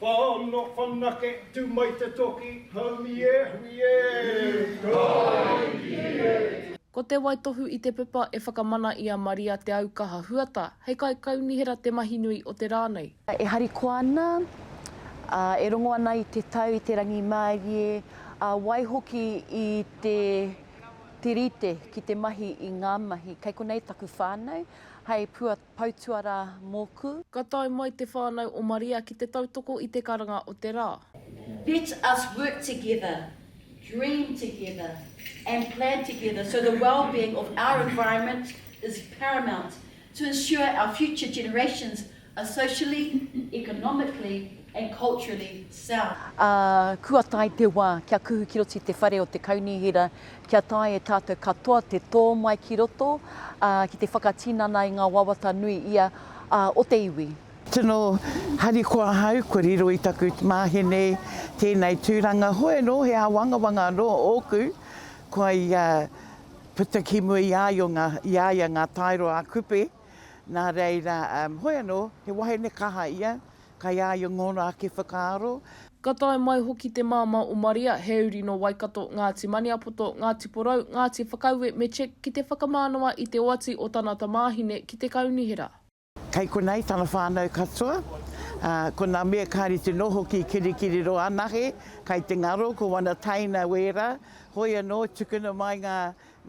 Whano whanake tu mai te toki haumi e hui e! Kaingie! Ko te waitohu i te pepa e whakamana i a Maria Te Aukaha Huata hei kaikaunihera te mahi nui o te rā nei. E harikoa ana, ā, e rongo ana i te tau, i te rangimārie, ā, waihoki i te tirite ki te mahi i ngā mahi. Kei konei taku whānau hei pua. Pau tuarā mōku. Ka tae mai te whānau o Maria ki te tautoko i te karanga o te rā. Let us work together, dream together and plan together so the wellbeing of our environment is paramount to ensure our future generations are socially, economically, and culturally sound. Ā, kua tae te wā kia kuhu ki roto i te whare o te Kaunihera kia taea e tātou katoa te tō mai ki roto, ā, ki te whakatinana i ngā wawata nui ia, ā, o te iwi. Tino harikoa ahau kua riro i taku māheni nei tēnei tūranga, hoi anō he āwangawanga anō ōku, kua i a, puta ki mua i a io ngā, i a ia ngā taero a Kupe, nā reira, hoi anō, he wahine kaha ia, Kai a ia ngōna ake whakaaro. Ka tae mai hoki te māmā o Maria, he uri nō Waikato, Ngāti Maniapoto, Ngāti Porou, Ngāti Whakaue me Czech ki te whakamānawa i te oati o tana tamāhine ki te kaunihera. Kei konei tana whānau katoa, ā, ko nā mea kāre te noho ki Kirikiriroa anahe, kai te ngaro, ko wana taina wērā, hoi anō, tukuna mai ngā,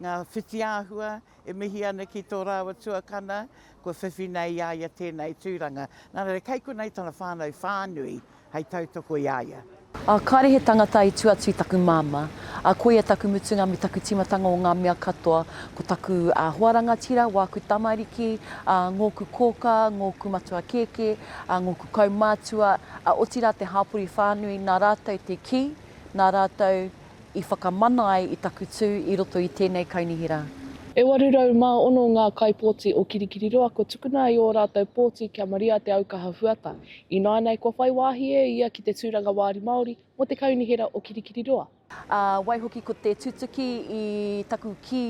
ngā whitiāhua E mihi ana ki tō rāua tuakana, kua whiwhi nei i a ia tēnei tūranga. Nā reira, kei konei tana whānau whānui hei tautoko i a ia. Ā, kāre he tangata i tū atu i taku māmā. Ā, koia taku mutunga me taku tīmatanga o ngā mea katoa, ko taku hoa rangatira, wāku tamariki, ā, ngōku kōkā, ngōku matua kēkē, ā, ngōku kaumātua, ā, otirā te hāpori whānui, nā rātou te kī, nā rātou i whakamana ai i taku tū i roto i tēnei kaunihera. E 806 ngā kaipōti o Kirikiriroa kua tukuna i ō rātou pōti kia maria te aukaha huata. Ināianei kua whai wāhi e ia ki te tūranga Wāri Māori mō te kaunihera o Kirikiriroa. Ā, waihoki ko te tutuki i taku kī,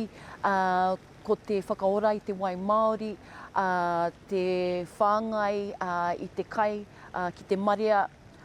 ā, ko te whakaora i te wai māori, ā, te whāngai, ā, i te kai, ā, ki te marea,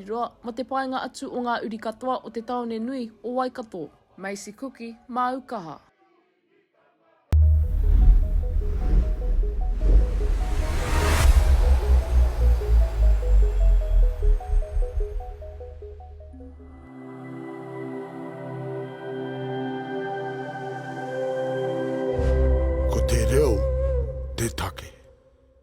Roa, mō te paenga atu o ngā uri katoa o te tāone nui o Waikato. Macy Kuki, māu kaha. Ko te reo te take.